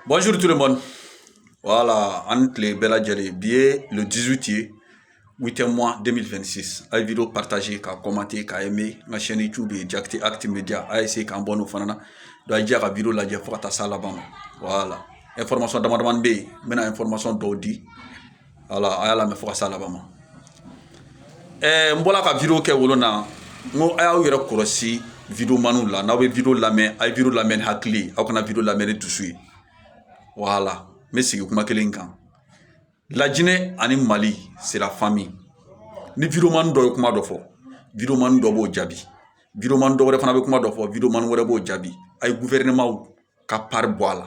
Bonjour tout le monde. Voilà, aw ni tile bɛɛ lajɛlen bi ye le 18 ye 8e mois 2026 a ye video partager k'a commenter k'a aimer n ka chaîne youtube ye jakite actu media a ye se k'abonner o fana na donc a ye jija ka video lajɛ fo ka taa s'a laban ma voilà information dama damani bɛ yen n bɛna information dɔw di voilà a y'a lamɛn fo ka se a laban ma ɛɛ n bɔla ka video kɛ o lon na n ko a y'aw yɛrɛ kɔlɔsi videomanw la n'aw bɛ video lamɛn a ye video lamɛn ni hakili aw kana video lamɛn ni dusu ye voilà n bɛ segin kuma kelen kan la Guinée ani mali c'est la famille ni videoman dɔ ye kuma dɔ fɔ videoman dɔ b'o jaabi videoman dɔ wɛrɛ fana bɛ kuma dɔ fɔ videoman wɛrɛ b'o jaabi a ye gouvernement ka part bɔ a la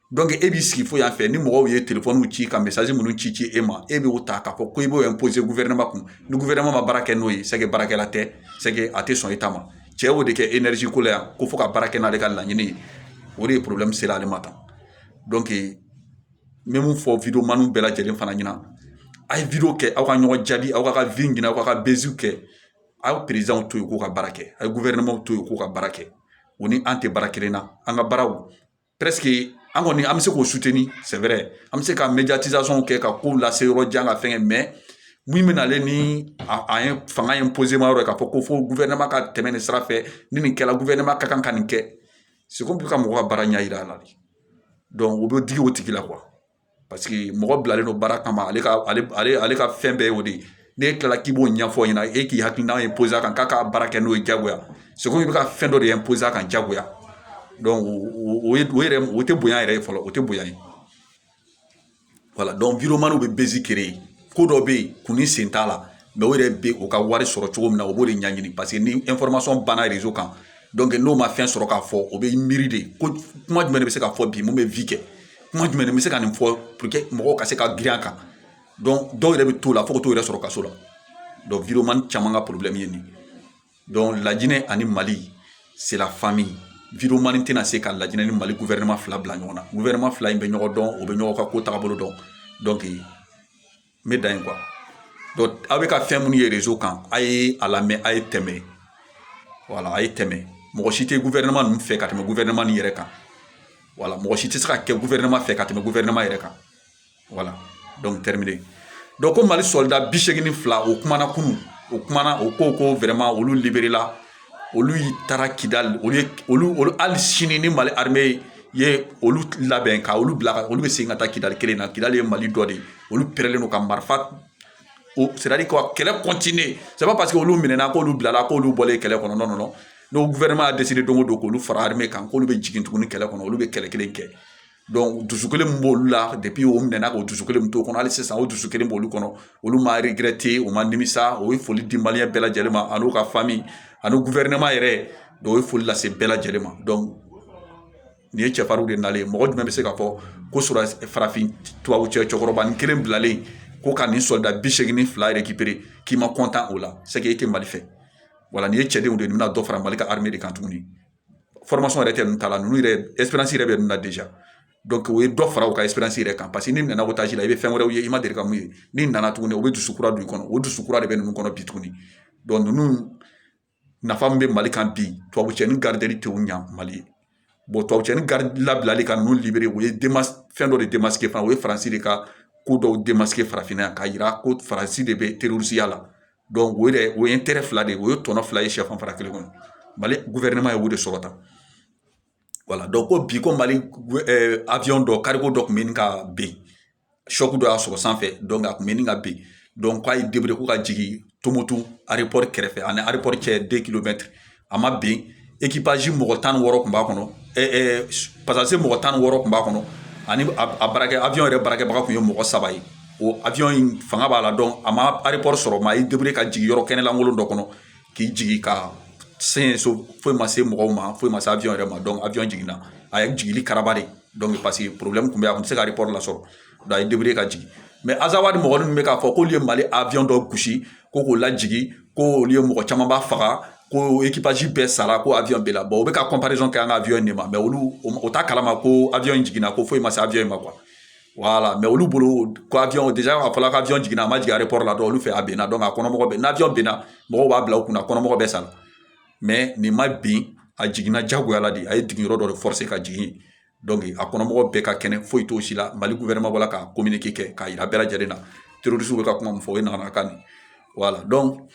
e b'i sigi fo yan fɛ ni mɔgɔw ye téléphonew ci ka message minnu ci ci e ma e b'o ta k'a fɔ ko i b'o imposer gouvernement kun ni gouvernement ma baara kɛ n'o ye c'est que baarakɛla tɛ c'est que a tɛ sɔn i ta ma cɛ y'o de kɛ énergie ko la yan ko fo ka baara kɛ n'ale ka laɲini ye o de ye problème sera ale ma tan donc n bɛ mun fɔ videomanw bɛɛ lajɛlen fana ɲɛna a ye video kɛ aw ka ɲɔgɔn jaabi aw ka vue ɲini aw ka buzzw kɛ aw présidentw to yen k'u ka baara kɛ a ye gouvernementw to yen k'u ka baara kɛ u ni an tɛ baara kelen na an ka baaraw an kɔni an bɛ se k'o suteni sɛbɛrɛ an bɛ se ka kɛ ka kow lase yɔrɔ jan ka fɛngɛ min bɛ nalen ni a ye fanga ye ma yɔrɔ k'a fɔ ko fo ka tɛmɛ nin sira fɛ ni nin kɛra ka kan ka nin kɛ seko bɛ ka mɔgɔ ka baara ɲɛ yira a la de o bɛ digi o tigi la parce que mɔgɔ bilalen don baara kama ale ka ale ka fɛn bɛɛ y'o de ye n'e tilala k'i b'o ɲɛfɔ ɲɛna e k'i hakilina imposer a kan k'a ka baara kɛ n'o ye jagoya c'est comme i bɛ ka fɛn dɔ de imposer a kan jagoya o ye o yɛrɛ o tɛ bonya yɛrɛ ye fɔlɔ o tɛ bonya ye voilà donc videoman bɛ buzz créer ko dɔ bɛ yen kun ni sen t'a la mais o yɛrɛ bɛ o ka wari sɔrɔ cogo min na o b'o de ɲɛɲini parce que ni information banna réseau kan donc n'o ma fɛn sɔrɔ k'a fɔ o bɛ miiri de ko kuma jumɛn de bɛ se ka fɔ bi mun bɛ vue kɛ kuma jumɛn n bɛ se ka nin fɔ pour que mɔgɔw ka se ka girin a kan dɔw yɛrɛ bɛ t'o la fo ka t'u yɛrɛ sɔrɔ kaso la donc videoman caman ka problème ye nin ye donc la Guinée ani mali c'est la famille videoman tɛna se ka la Guinée ni mali gouvernement fila bila ɲɔgɔn na gouvernement fila in bɛ ɲɔgɔn dɔn u bɛ ɲɔgɔn ka ko taabolo dɔn n bɛ dan yen quoi donc aw bɛ ka fɛn minnu ye réseau kan a ye a lamɛn a ye tɛmɛ voilà a ye tɛmɛ mɔgɔ si tɛ gouvernement ninnu fɛ ka tɛmɛ gouvernement nin yɛrɛ kan voilà mɔgɔ si tɛ se ka kɛ gouvernement fɛ ka tɛmɛ gouvernement yɛrɛ kan voilà donc terminé donc ko mali soldat bi seegin ni fila o kumana kunun o kumana o ko ko vraiment olu libéréla olu taara kidali olu hali sini ni mali armée ye olu labɛn ka olu bila olu bɛ segin ka taa kidali kelen na kidali ye mali dɔ de ye olu pɛrɛlen don ka marifa c'est-à-dire que kɛlɛ continue c'est pas parce que olu minɛna k'olu bilala k'olu bɔlen kɛlɛ kɔnɔ non non ni gouvernement y'a décidé don o don k'olu fara armée kan k'olu bɛ jigin tuguni kɛlɛ kɔnɔ olu bɛ kɛlɛ kelen kɛ dusu kelen min b'olu la depuis o minɛna o dusu kelen min t'o kɔnɔ hali sisan o dusu kelen b'olu kɔnɔ olu ma regretter u ma nimisa o ye foli di malien bɛɛ lajɛlen ma an'u ka famille ani gouvernement yɛrɛ donc o ye foli lase bɛɛ lajɛlen ma donc nin ye cɛfarinw de nalen ye mɔgɔ jumɛn bɛ se ka fɔ ko farafin tubabu cɛ cɛkɔrɔba nin kelen bilalen ko ka nin soldat bi segin ni fila récupérer k'i ma kɔntan o la c'est que e tɛ mali fɛ voilà nin ye cɛdenw de ye nin bɛna dɔ fara mali ka armée de kan tuguni yɛrɛ tɛ ninnu ta la ninnu yɛrɛ expérience yɛrɛ bɛ ninnu na déjà donc o ye dɔ fara u ka expérience yɛrɛ kan paseke n'i nana otage la i bɛ fɛn wɛrɛw ye i ma deli ka min ye n'i nana tuguni o bɛ dusu kura don i kɔnɔ o dusu kura de bɛ ninnu kɔnɔ bi tuguni donc ninnu nafa min bɛ mali kan bi tubabu cɛ nin gardeli tɛ o ɲɛ mali ye tubabu cɛ nin labilali ka ninnu libéré o ye fɛn dɔ de démasqué fana o ye faransi de ka ko dɔw démasqué farafinna yan k'a jira ko faransi de bɛ terorisiya la o yɛrɛ o ye intérêt fila de ye o ye tɔnɔ fila ye sɛfan fara kelen kɔnɔ mali gouvernement ye o de sɔrɔ tan voilà donc ko bi ko mali avion dɔ cargo dɔ tun bɛ ɲini ka bin choc dɔ y'a sɔrɔ sanfɛ donc a tun bɛ ɲini ka bin donc k'a ye débrouillé ko ka jigin tumutu aéroport kɛrɛfɛ a ni aéroport cɛ deux kilomètres a ma bin ekipazi mɔgɔ tan ni wɔɔrɔ kun b'a kɔnɔ passager mɔgɔ tan ni wɔɔrɔ kun b'a kɔnɔ ani a baarakɛ avion yɛrɛ baarakɛbaga kun ye mɔgɔ saba ye o avion in fanga b'a la donc a ma aéroport sɔrɔ mais a ye débrouillé ka jigin yɔrɔ kɛnɛlankolon dɔ kɔnɔ k'i jigin k'a sɔrɔ foyi ma se mɔgɔw ma foyi ma se avion yɛrɛ ma donc avion jiginna a ye jigili karaba de donc paseke problème tun bɛ yen a tun tɛ se ka aéroport lasɔrɔ a ye débrouillé ka jigin mais azawadi mɔgɔ ninnu bɛ k'a fɔ k'olu ye mali avion dɔ gosi ko k'o lajigin ko olu ye mɔgɔ camanba faga ko ekipazi bɛɛ sara ko avion binna bon u bɛ ka comparaison kɛ an ka avion nin ma mais olu o t'a kalama ko avion in jiginna ko foyi ma se avion in ma quoi voilà mais olu bolo ko avion déjà a fɔla ko avion jiginna a ma jigin aéroport la dɔrɔn olu fɛ a binna donc a kɔnɔmɔgɔ bɛɛ n'avion binna mɔgɔw b'a bila u kunna kɔnɔmɔgɔ bɛ sa mais nin ma bin a jiginna jagoya la de a ye jigin yɔrɔ dɔ de forcer ka jigin a kɔnɔmɔgɔw bɛɛ ka kɛnɛ foyi t'o si la mali wɛrɛ ma bɔ ka ko mini' kɛ k'a jira bɛɛ lajɛlen na terirosu bɛ ka kuma min fɔ o ye nana kan wala dɔn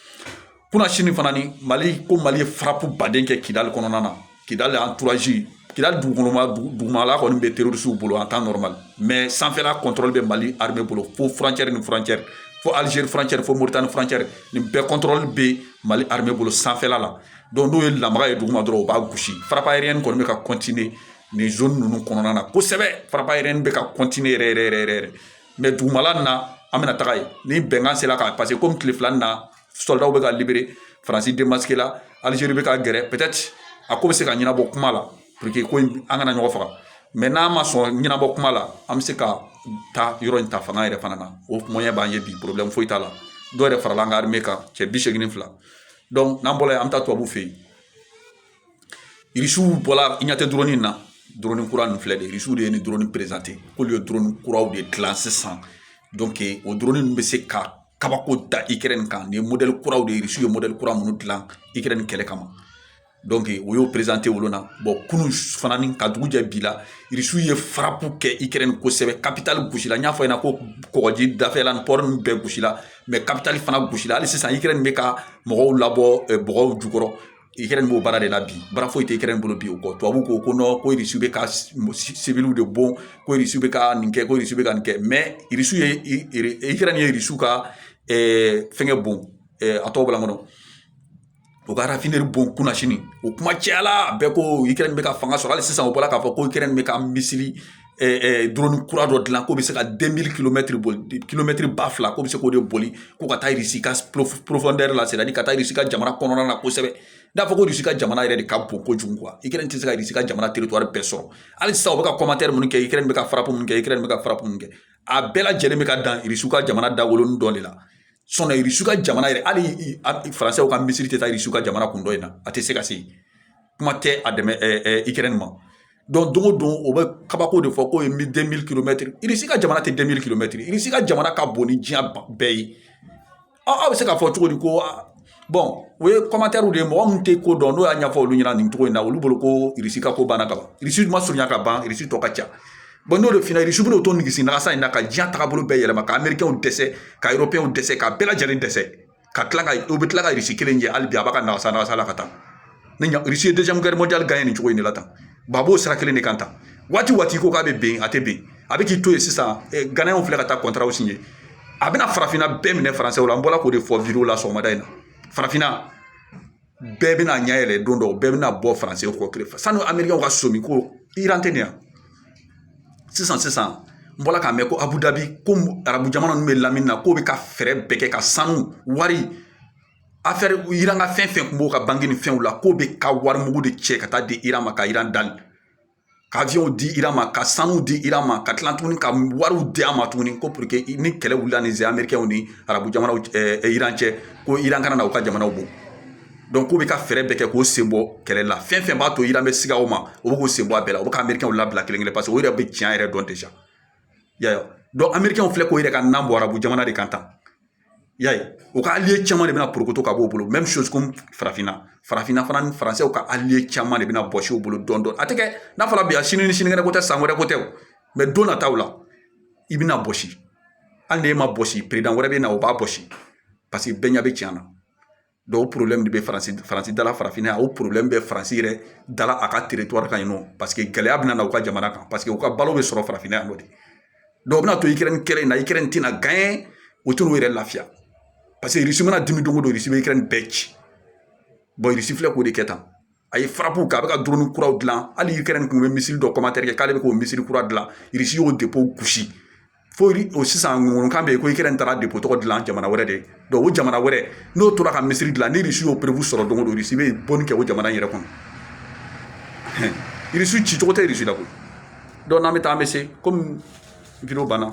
kunna sini fana ni mali ko mali ye faraku baden kɛ kidali kɔnɔna na kidali an turaji ki dugukɔnɔma dugumala kɔni bɛ terirosuw bolo an taama mɛ sanfɛla kɔntɔli bɛ mali hamɛ bolo fo fcɛri ni fcɛri fo alizeri fcɛri fo mori tan ni fcɛri nin bɛɛ kɔntɔli bɛ mali hamɛ bolo sanfɛla la n'o ye lamaga ye duguma dɔrɔn u b'a gosi frappe aérienne kɔni bɛ ka continuer nin zone ninnu kɔnɔna na kosɛbɛ frappe aérienne bɛ ka continuer yɛrɛ mais dugumala na an bɛna taga yen ni bɛnkan sera ka parce que ko tile fila nin na sɔrɔdasiw bɛ ka libérer faransi démasquéla alizeri bɛ ka gɛrɛ peut-être a ko bɛ se ka ɲɛnabɔ kuma la pour que ko an kana ɲɔgɔn faga mais n'a ma sɔn ɲɛnabɔ kuma la an bɛ se ka taa yɔrɔ in ta fanga yɛrɛ fana na o moyen b'an ye bi problème foyi t'a la dɔw yɛrɛ farala an ka armée kan cɛ bi segin ni fila n'an bɔra yen an bɛ taa tubabu fɛ yen irisiw bɔla i ɲɛ tɛ drone nin na drone kura nin filɛ de irisiw de ye nin drone présenté k'olu ye drone kuraw de dilan sisan donc o drone ninnu bɛ se ka kabako da ikɛrɛn kan nin ye modèle kuraw de ye irisiw ye modèle kura minnu dilan ikɛrɛn kɛlɛ kama u y'o présenté olu na bon kunun fana ni ka dugu jɛ bi la irisiw ye frappe kɛ ikɛrɛn kosɛbɛ kapitali gosila n y'a fɔ i ɲɛna ko kɔgɔji dafɛla ni pɔri ninnu bɛɛ gosila mais kapitali fana gosila hali sisan ikɛrɛn bɛ ka mɔgɔw labɔ bɔgɔw jukɔrɔ ikɛrɛn b'o baara de la bi baara foyi tɛ ikɛrɛn bolo bi o kɔ tubabu ko non ko irisiw bɛ ka siwiliw de bon ko irisiw bɛ ka nin kɛ ko irisiw bɛ ka nin kɛ mais irisiw ye ikɛrɛn ye irisiw ka fɛnkɛ bon a tɔgɔ bɔla n kɔnɔ u ka rafineri bon kunasini o kuma cayala bɛɛ ko ikɛrɛn bɛ ka fanga sɔrɔ hali sisan u bɔra k'a fɔ ko ikɛrɛn bɛ ka misili drone kura dɔ dilan k'o bɛ se ka deux mille kilomɛtiri boli kilomɛtiri ba fila k'o bɛ se k'o de boli ko ka taa irisi ka profondeur la c'est-à-dire ka taa irisi ka jamana kɔnɔna na kosɛbɛ n'a fɔ ko irisi ka jamana yɛrɛ de ka bon kojugu quoi ikɛrɛn tɛ se ka irisi ka jamana territoire bɛɛ sɔrɔ hali sisan u bɛ ka commentaire minnu kɛ ikɛrɛn bɛ ka frappe minnu kɛ ikɛrɛn bɛ ka frappe minnu kɛ a bɛɛ lajɛlen bɛ ka dan irisiw ka jamana dawolonin dɔ de la irisi ka jamana yɛrɛ hali faransɛw ka misili tɛ taa irisi ka jamana kun dɔ in na a tɛ se ka se kuma tɛ a dɛmɛ ikɛrɛn ma donc don o don o bɛ kabako de fɔ k'o ye deux mille kilomɛtiri irisi ka jamana tɛ deux mille kilomɛtiri irisi ka jamana ka bon ni diɲɛ bɛɛ ye aw bɛ se k'a fɔ cogo di ko o ye commentaire de ye mɔgɔ min tɛ ko dɔn n'o y'a ɲɛfɔ olu ɲɛna nin cogo in na olu bolo ko irisi ka ko banna ka ban irisi ma surunya ka ban irisi tɔ ka ca bon n'o de f'i ɲɛna irisi bɛn'o to nigisi nagasa in na ka diɲɛ tagabolo bɛɛ yɛlɛma ka amerikɛnw dɛsɛ ka erɔpeyɛnw dɛsɛ ka bɛɛ lajɛlen dɛsɛ ka tila u bɛ tila ka irisi kelen jɛ hali bi a b'a ka nagasa nagasa la ka taa ne ɲa irisi ye deuxième guerre mondiale gagné nin cogo in de la tan ba b'o sira kelen de kan tan waati waati ko k'a bɛ ben a tɛ ben a bɛ k'i to yen sisan ganayɛnw filɛ ka taa kɔntaraw signé a bɛna farafinna bɛɛ minɛ faransɛw la an bɔra k'o de fɔ video la sɔgɔmada in na farafinna bɛɛ bɛna ɲɛ yɛlɛ don dɔ bɛɛ bɛna bɔ faransɛw kɔ kelen fɛ sanu amerikɛnw ka sɔmi ko iran tɛ nin yan sisan sisan n bɔra k'a mɛn ko abu dabi ko arabu jamana ninnu bɛ lamini na k'o bɛ ka fɛɛrɛ bɛɛ kɛ ka sanu wari afɛri iran ka fɛn fɛn kun b'o ka banki ni fɛnw la k'o bɛ ka wari mugu de cɛ ka taa di iran ma ka iran dali ka aviɔnw di iran ma ka sanuw di iran ma ka tila tuguni ka wariw di a ma tuguni ko pour que ni kɛlɛ wulila ni les amerikɛnw ni arabu jamanaw iran cɛ ko iran kana na u ka jamanaw bon donc k'u bɛ ka fɛɛrɛ bɛɛ kɛ k'o sen bɔ kɛlɛ la fɛn fɛn b'a to iran bɛ siga o ma o bɛ k'u sen bɔ a bɛɛ la o bɛ ka amerikɛnw labila kelen kelen parce que o yɛrɛ bɛ tiɲɛ yɛrɛ dɔn déjà y'a ye donc amerikɛnw filɛ k'o yɛrɛ ka nan bɔ arabu jamana de kan tan I y'a ye u ka allié caman de bɛna porokoto ka bɔ u bolo même chose comme farafinna farafinna fana ni faransiw ka allié caman de bɛna bɔsi u bolo dɔɔnin dɔɔnin a tɛ kɛ n'a fɔra bi a sini ni sinikɛnɛ ko tɛ san wɛrɛ ko tɛ o mais don nataw la i bɛna bɔsi hali n'e ma bɔsi président wɛrɛ bɛ na o b'a bɔsi paseke bɛɛ ɲɛ bɛ tiɲɛ na o problème de bɛ faransi faransi dala farafinna yan o problème bɛ faransi yɛrɛ dala a ka territoire kan yen nɔ paseke gɛlɛya bɛna na u ka jamana kan paseke u ka balo bɛ sɔrɔ farafinna yan nɔ de donc o bɛna to ukraine kɛlɛ in na ukraine tɛna gagner o t'u yɛrɛ lafiya paseke irisi mana dimi don o don irisi bɛ ukraine bɛɛ ci irisi filɛ k'o de kɛ tan a ye frappe kɛ a bɛ ka drone kuraw dilan hali ukraine tun bɛ missile dɔ commentaire kɛ k'ale bɛ k'o missile kura dilan irisi y'o depo gosi fo o sisan ŋɔnkan bɛ yen ko ukraine taara depo tɔgɔ dilan jamana wɛrɛ de donc o jamana wɛrɛ n'o tora ka missile dilan ni irisi y'o preuve sɔrɔ don o don irisi bɛ bɔnni kɛ o jamana yɛrɛ kɔnɔ irisi ci cogo tɛ irisi la koyi donc n'an bɛ taa an bɛ se komi video banna